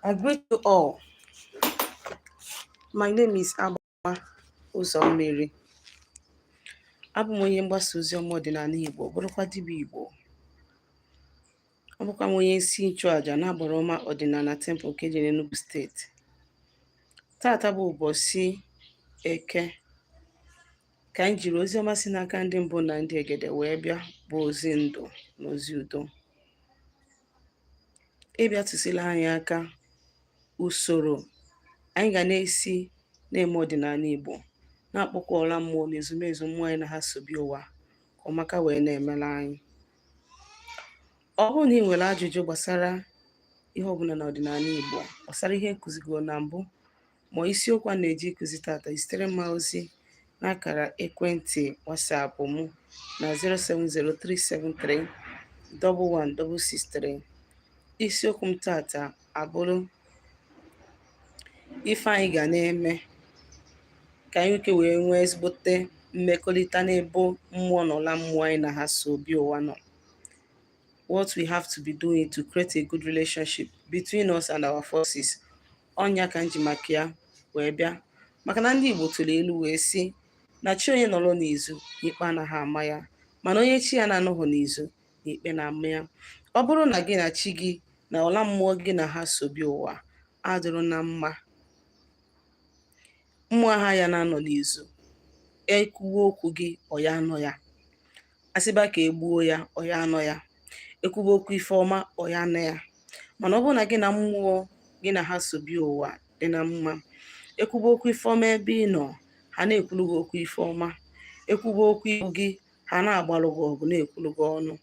I greet you all. My name is Agbama Ụzọmmiri. Abụ m onye mgbasa ozi ọma ọdịnala Igbo, bụrụkwa dibịa Igbo. Abụkwa m onye isi nchụaja n'agbara ọma ọdịnala Temple nke dị n'Enugu steeti. Tata bụ ụbọchị Eke ka anyị jiri ozi ọma si n'aka ndị mbụ na ndị egede wee bịa bụ ozi ndụ na ozi udo. ịbịa tụsila anyị aka usoro anyị ga na-esi na-eme ọdịnala Igbo na-akpọku ọla mmụọ na ezumezu mmụọ anyị na ha so bịa ụwa ka ọmaka wee na-emela anyị ọ bụrụ na i nwere ajụjụ gbasara ihe ọbụla na ọdịnala Igbo gbasara ihe m kụzigo na mbụ ma isiokwu a na-eje ịkụzi tata zitere m ozi n'akara ekwentị WhatsApp m na 07037311663 isiokwu m tata abụrụ ife anyị ga na-eme ka anyị nwee ike wee nwee ezigbote mmekọrịta n'ebe mmụọ na ọla mmụọ anyị na ha so bịa ụwa nọ what we have to be doing to create a good relationship between us and our forces ọ nya ka m ji maka ya wee bịa maka na ndị Igbo tụrụ ilu wee sị na chi onye nọrọ n'izu na ikpe anaghị ama ya mana onye chi ya na-anọghị n'izu na ikpe na-ama ya ọ bụrụ na gị na chi gị na ọla mmụọ gị na ha so bịa ụwa adịrụ na mma mmụọ ha ya na-anọ n'izu e kwuwe okwu gị ọ ya anọ ya a sịba ka e gbuo ya ọ ya anọ ya e kwuba okwu ife ọma ọ ya anọ ya mana ọ bụrụ na gị na mmụọ gị na ha so bịa ụwa dị na mma e kwuba okwu ife ọma ebe ị nọ ha na-ekwulu gị okwu ife ọma e kwuba okwu igbu gị ha na-agbalụ gị ọgụ na-ekwulu gị ọnụ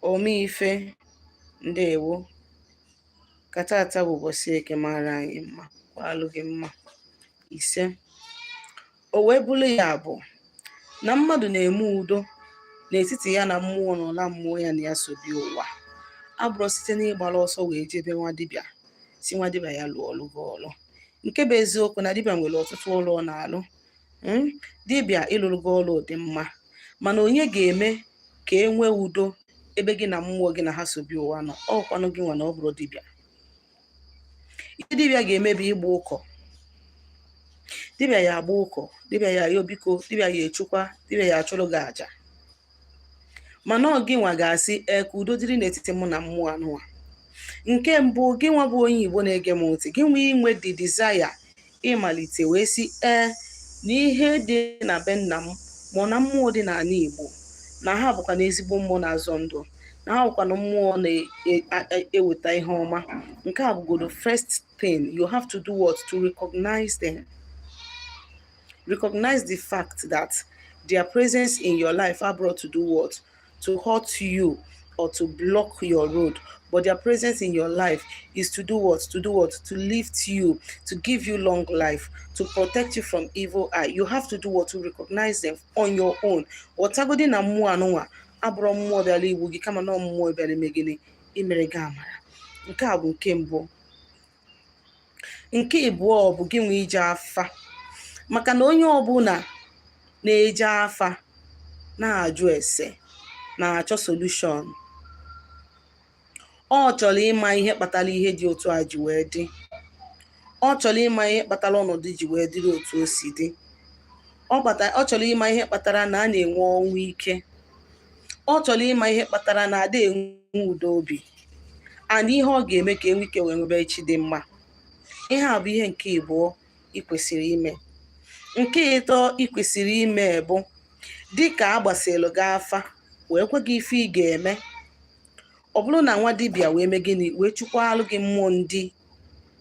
omeife ndewo ka tata bụ ụbọchị eke mara anyị mma kwalụ gị mma ise o wee bụrụ ya bụ na mmadụ na-eme udo n'etiti ya na mmụọ na ọla mmụọ ya na ya so bịa ụwa abụrụ site n'ịgbara ọsọ wee jee be nwa dibịa sị nwa dibịa ya lụọlụ gị ọlụ nke bụ eziokwu na dibịa nwere ọtụtụ ọlụ ọ na-alụ hmm? dibịa ịlụlụ gị ọlụ dị mma mana onye ga-eme ka e nwee udo ebe gị na mmụọ gị na ha so bịa ụwa nọ ọ kwanụ gị nwa na ọ bụrụ dibịa ihe dibịa ga-eme bụ ịgba ụkọ dibịa ya agba ụkọ dibịa ya ayọ biko dibịa ya echukwa dibịa ya achụrụ gị aja mana ọ gịnwa ga-asị ee ka udo dịrị n'etiti mụ na mmụọ anụwa nke mbụ gịnwa bụ onye igbo na-ege m ntị gịnwa inwe the desire ịmalite wee sị ee na ihe dị na be nna m ma ọ na mmụọ dị n'ala Igbo na ha bụkwa na ezigbo mmụọ na-azọ ndụ na ha bụkwa na mmụọ na-eweta e, e, e, ihe ọma nke a bụgodo first thing you have to do what to recognize them recognize the fact that their presence in your life abụrọ to do what to hurt you or to block your road but their presence in your life is to do what to do what to lift you to give you long life to protect you from evil eye you have to do what to recognize them on your own ghọtagodi na mmụọ anụnwa abụrọ mmụọ bịara igbu gị kama na ọ mmụọ bịara ime gịnị imere gị amara nke a bụ nke mbụ nke ịbụọ ọ bụ gị nwe ije afa maka na onye ọbụla na-eje afa na-ajụ ese na-achọ solution ọ chọrọ ịma ihe kpatara ihe dị otu a ji wee dị ọ chọrọ ịma ihe kpatara ọnọdụ ji wee dịrị otu o si dị ọ chọrọ ịma ihe kpatara na a na-enwe ọnwụ ike ọ chọrọ ịma ihe kpatara na ada enwe udo obi and ihe ọ ga-eme ka e nwee ike wee nwebe echi dị mma ihe a bụ ihe nke ịbụọ ị kwesịrị ime nke ịtọ ị kwesịrị ime bụ dịka a gbasịlụ gị afa wee gwa gị ife ị ga-eme ọ bụrụ na nwa dibịa wee mee gịnị wee chụkwalụ gị mmụọ ndị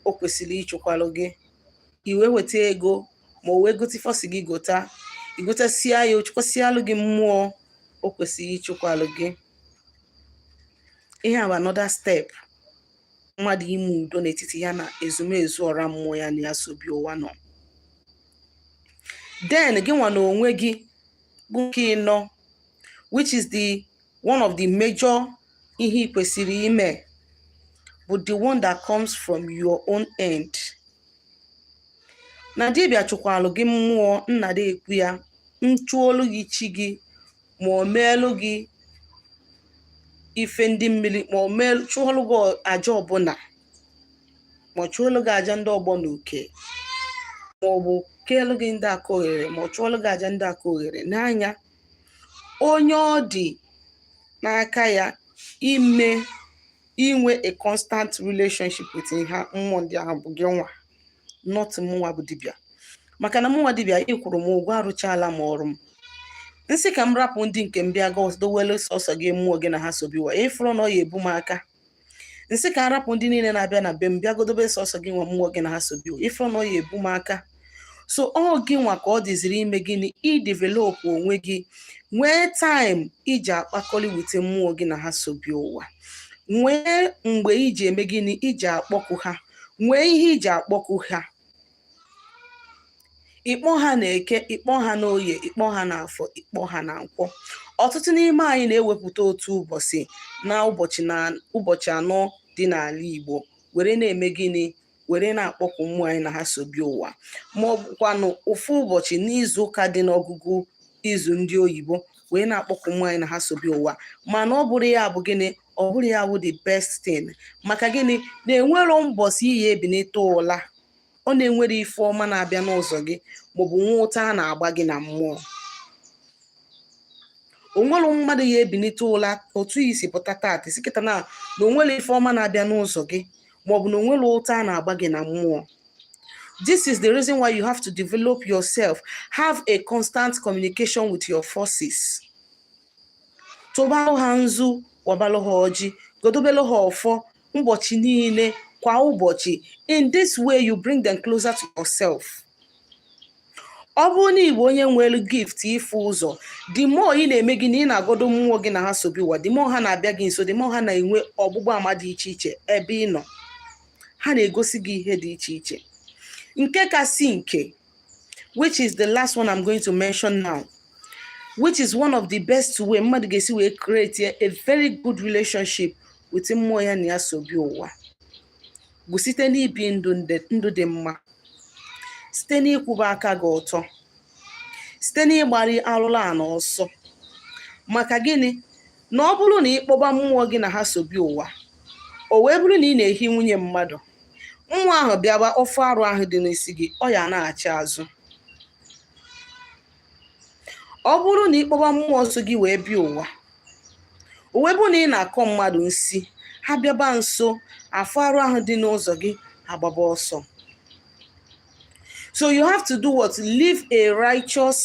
o kwesịrị ịchụkwalụ gị i wee weta ego ma o wee gote ife ọ sị gị gota i gotasịa ya ọ chụkwasịalụ gị mmụọ o kwesịrị ịchụkwalụ gị ihe a bụ another step mmadụ ime udo n'etiti ya na ezumezu ọra mmụọ ya na ya so bịa ụwa nọ then gị nwa na onwe gị bụ nke ịnọ which is the one of the major ihe ị kwesịrị ime bụ the one that comes from your own end na dibịa chụkwalụ gị mmụọ nna dị ekwu ya nchụọlụ gị chi gị ma ọ meelụ gị ife ndị mmiri ma ọ meelụ chụọlụ gị aja ọbụla ma ọ chụọlụ gị aja ndị ọgbọ na uke ma ọ bụ keelụ gị ndị aka oghere ma ọ chụọlụ gị aja ndị aka oghere n'anya onye ọ dị n'aka ya ime inwe a constant relationship with ha mmụọ ndị ahụ bụ gị nwa not mụnwa bụ dibịa maka na mụnwa dibịa ị kwụrụ m ụgwọ arụchaala m ọrụ m m sị ka m rapụ ndị nke m bịa gọdowele sọsọ gị mmụọ gị na ha so bịa ụwa ị fụrụ na ọ ya ebu m aka m sị ka a rapụ ndị niile na-abịa na be m bịa gọdobe sọsọ gị nwa mmụọ gị na ha so bịa ụwa ị fụrụ na ọ ya ebu m aka so ọ gị nwa ka ọ dịziri ime gịnị idevelop onwe gị nwee time i ji akpakọli with mmụọ gị na ha so bịa ụwa nwee mgbe i ji eme gịnị i ji akpọku ha nwee ihe i ji akpọku ha ịkpọ ha na eke ịkpọ ha na oye ịkpọ ha na afọ ịkpọ ha na nkwọ ọtụtụ n'ime anyị na-ewepụta otu ụbọchị na ụbọchị anọ dị n'ala Igbo were na-eme gịnị were na-akpọku mmụọ anyị na ha so bịa ụwa ma ọ bụkwanụ ofu ụbọchị n'izu ụka dị n'ọgụgụ izu ndị oyibo wee na-akpọku mmụọ anyị na ha so bịa ụwa mana ọ bụrụ ya bụ gịnị ọ bụrụ ya wụ the best thing maka gịnị na enwero mbọsị ị ya-ebinite ụla ọ na-enwere ife ọma na-abịa n'ụzọ gị maọbụ nwee ụta a na-agba gị na mmụọ onwere mmadụ ya-ebinite ụla otu ị si pụta taata si kịta na na onwere ife ọma na-abịa n'ụzọ gị maọbụ na onwere ụta a na-agba gị na mmụọ this is the reason why you have to develop yourself have a constant communication with your forces tụbalụ ha nzu wabalụ ha ọjị godobelụ ha ọfọ ụbọchị niile kwa ụbọchị in this way you bring them closer to yourself ọ bụrụ na ị bụ onye nwere gift ịfụ ụzọ the more ị na-eme gịnị ị na-agodo mmụọ gị na ha so bịa ụwa the more ha na-abịa gị nso the more ha na-enwe ọgbụgba ama dị iche iche ebe ị nọ ha na-egosi gị ihe dị iche iche nke kasị nke which is the last one I'm going to mention now which is one of the best way mmadụ ga-esi wee create a very good relationship with mmụọ ya na ya so bịa ụwa bụ site n'ibi ndụ dị mma site n'ịkwụba aka gị ọtọ site n'ịgbara arụrụ ana ọsọ maka gịnị na ọ bụrụ na ị kpọba mmụọ gị na ha so bịa ụwa o wee bụrụ na ị na-ehi nwunye mmadụ mmụọ ahụ bịaba ọ fụ arụ ahụ dị n'isi gị ọ ya-anaghachi azụ ọ bụrụ na ị kpọba mmụọ so gị wee bịa ụwa o wee bụrụ na ị na-akọ mmadụ nsi ha bịaba nso afụ arụ ahụ dị n'ụzọ gị agbaba ọsọ so you have to do what live a righteous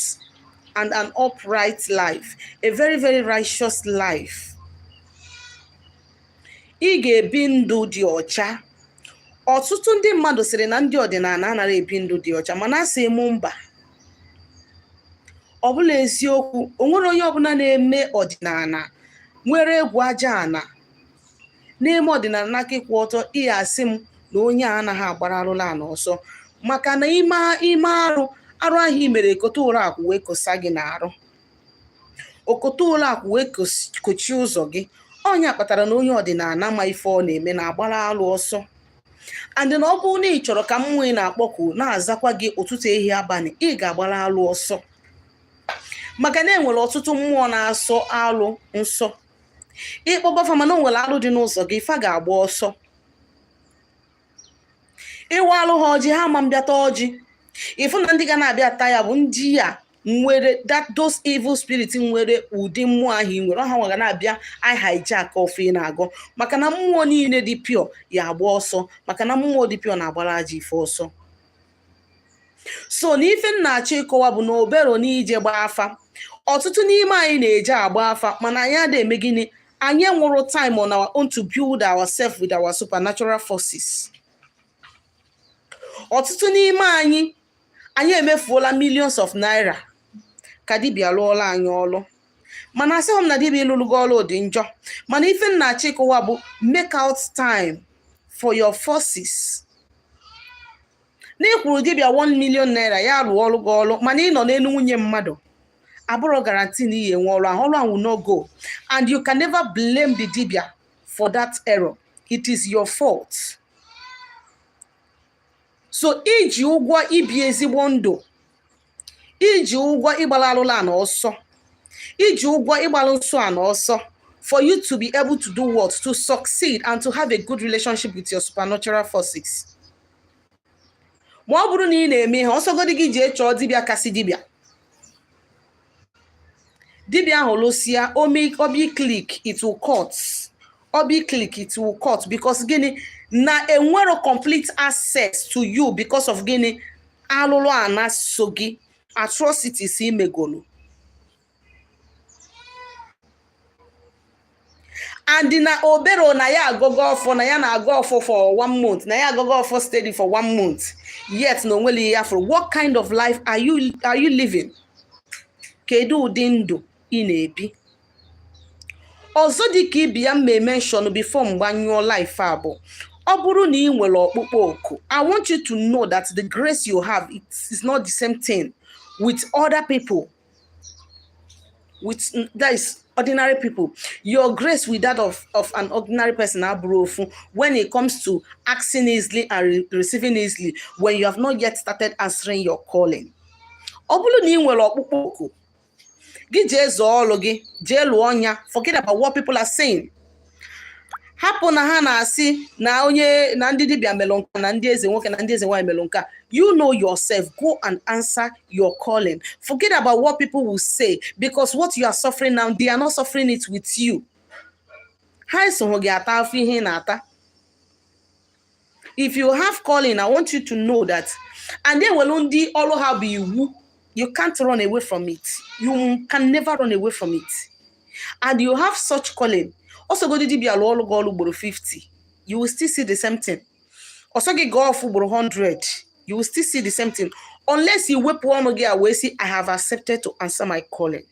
and an upright life a very very righteous life ị ga-ebi ndụ dị ọcha ọtụtụ ndị mmadụ sịrị na ndị ọdịnala anaghị ebi ndụ dị ọcha mana asị m mba ọ bụrọ eziokwu o nwero onye ọbụla na-eme ọdịnala nwere egwu aja ana na-eme ọdịnala n'aka ịkwụ ọtọ ị ya-asị m na onye a anaghị agbara arụrụ ana ọsọ maka na i mee arụ arụ ahụ i mere kote ụrọ akwụ wee kosa gị n'arụ o kote ụlọ akwụ wee kochie ụzọ gị ọ nya kpatara na onye ọdịnala ma ife ọ na-eme na-agbara alụ ọsọ and na ọ bụrụ na ị chọrọ ka mmụọ ị na-akpọku na-azakwa gị ụtụtụ ehihie abalị ị ga-agbara alụ ọsọ maka na enwere ọtụtụ mmụọ na-asọ alụ nsọ ị kpọba fa mana o nwere alụ dị n'ụzọ gị fa ga-agba ọsọ ị waalụ ha ọjị ha ama bịa ta ọjị ị fụ na ndị ga na-abịa ata ya bụ ndị ya nwere that those evil spirit nwere ụdị mmụọ ahụ ị nwere ọ ha nwa ga na-abịa hijack ọfọ ị na-agọ maka na mmụọ niile dị pure ya agba ọsọ maka na mmụọ dị pure na-agbara ajọ ife ọsọ so na ife m na-achọ ịkọwa bụ na o bero n'ije gbaa afa ọtụtụ n'ime anyị na-eje agba afa mana anyị adịghị eme gịnị anyị enwero time on our own to build ourselves with our supernatural forces ọtụtụ n'ime anyị anyị emefuola millions of naira ka dibịa lụọlụ anyị ọlụ mana asịghị m na dibịa ịlụlụ gị ọrụ dị njọ mana ife m na-achọ ịkọwa bụ make out time for your forces na ị kwụrụ dibịa 1 million naira ya lụọlụ gị ọrụ mana ị nọ n'elu nwunye mmadụ abụrọ guarantee na ị ya-enwe ọrụ ahụ ọrụ ahụ no go and you can never blame the dibịa for that error it is your fault so i ji ụgwọ ibi ezigbo ndụ i ji ụgwọ ịgbara alụlụ ana ọsọ i ji ụgwọ ịgbara nsọ ana ọsọ for you to be able to do what to succeed and to have a good relationship with your supernatural forces ma ọ bụrụ na ị na-eme ihe ọ sọgodi gị jee chọọ dibịa kasị dibịa dibịa ahụ lụsịa obi click it will cut ọ bụ click it will cut because gịnị na o nwero complete access to you because of gịnị alụlụ ana so gị atrocities i megolu and na o bero na ya agọgo ọfọ na ya na-agọ ọfọ for one month na ya agọgo ọfọ steady for one month yet na o nwero ihe ya fụrụ what kind of life are you, are you living kedu ụdị ndụ ị na-ebi ọzọ dị ka ibe ya m ma emention before m gbanyụọ live a bụ ọ bụrụ na ị nwere ọkpụkpọ oku i want you to know that the grace you have it is not the same thing with other people with that is ordinary people your grace with that of, of an ordinary person abụrọ ofu when it comes to asking easily and re receiving easily when you have not yet started answering your calling ọ bụrụ na ị nwere ọkpụkpọ oku gị jee zaa ọlụ gị jee lụọ nya forget about what people are saying hapụ na ha na-asị na onye na ndị dibịa melụ nka na ndị eze nwoke na ndị eze nwaanyị melụ nka you know yourself go and answer your calling forget about what people will say because what you are suffering now they are not suffering it with you ha esoghị gị ata afụfụ ihe ị na-ata if you have calling i want you to know that and e nwelu ndị ọlụ ha bụ iwu you can't run away from it you can never run away from it and you have such calling ọ sọgodi dibịa lụọlụ gị ọlụ ugboro 50 you will still see the same thing ọ sọ gị gọọ ọfọ ugboro 100 you will still see the same thing unless you wepụ ọnụ gị a wee sị i have accepted to answer my calling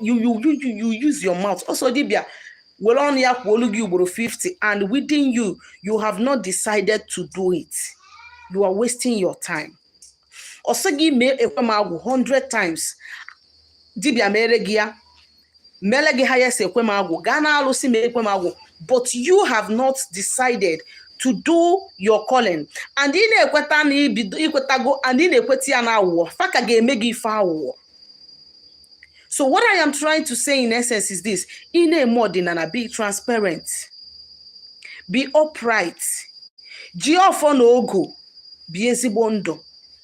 you you you you use your mouth ọ sọ dibịa were ọnụ ya kwuolu gị ugboro 50 and within you you have not decided to do it you are wasting your time ọ sọ gị mee ekwe m agwụ 100 times dibịa meere gị ya mele gị ya sị ekwe m agwụ gaa na alụsị mee ekwe m agwụ but you have not decided to do your calling and ị na-ekweta na i kwetago and ị na-ekweta ya na aghụghọ fa ka ga-eme gị ife aghụghọ so what i am trying to say in essence is this ị na-eme ọdịnala be transparent be upright ji ọfọ na ogu bie ezigbo ndụ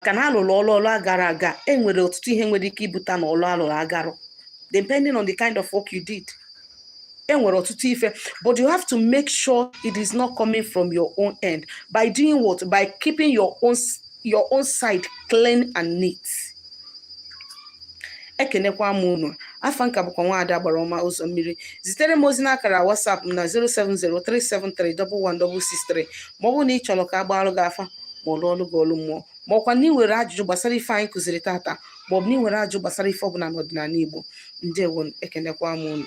maka na a lụrụ ọlụ ọlụ agarọ aga e nwere ọtụtụ ihe nwere ike ibute na ọlụ a lụrụ agarọ depending on the kind of work you did e nwere ọtụtụ ife but you have to make sure it is not coming from your own end by doing what by keeping your own your own side clean and neat ekenekwa m unu afa m ka bụkwa Nwaada Agbara Ọma Ụzọ Mmiri zitere m ozi n'akara WhatsApp m na 07037311163 ma ọ bụ na ị chọrọ ka a gbaalụ gị afa ma ọ lụọlụ gị ọlụ mmụọ ma ọkwa na ị nwere ajụjụ gbasara ife anyị kụziri tata ma ọ bụ na ị nwere ajụjụ gbasara ife ọbụla n'ọdịnala Igbo ndewo ekenekwa m unu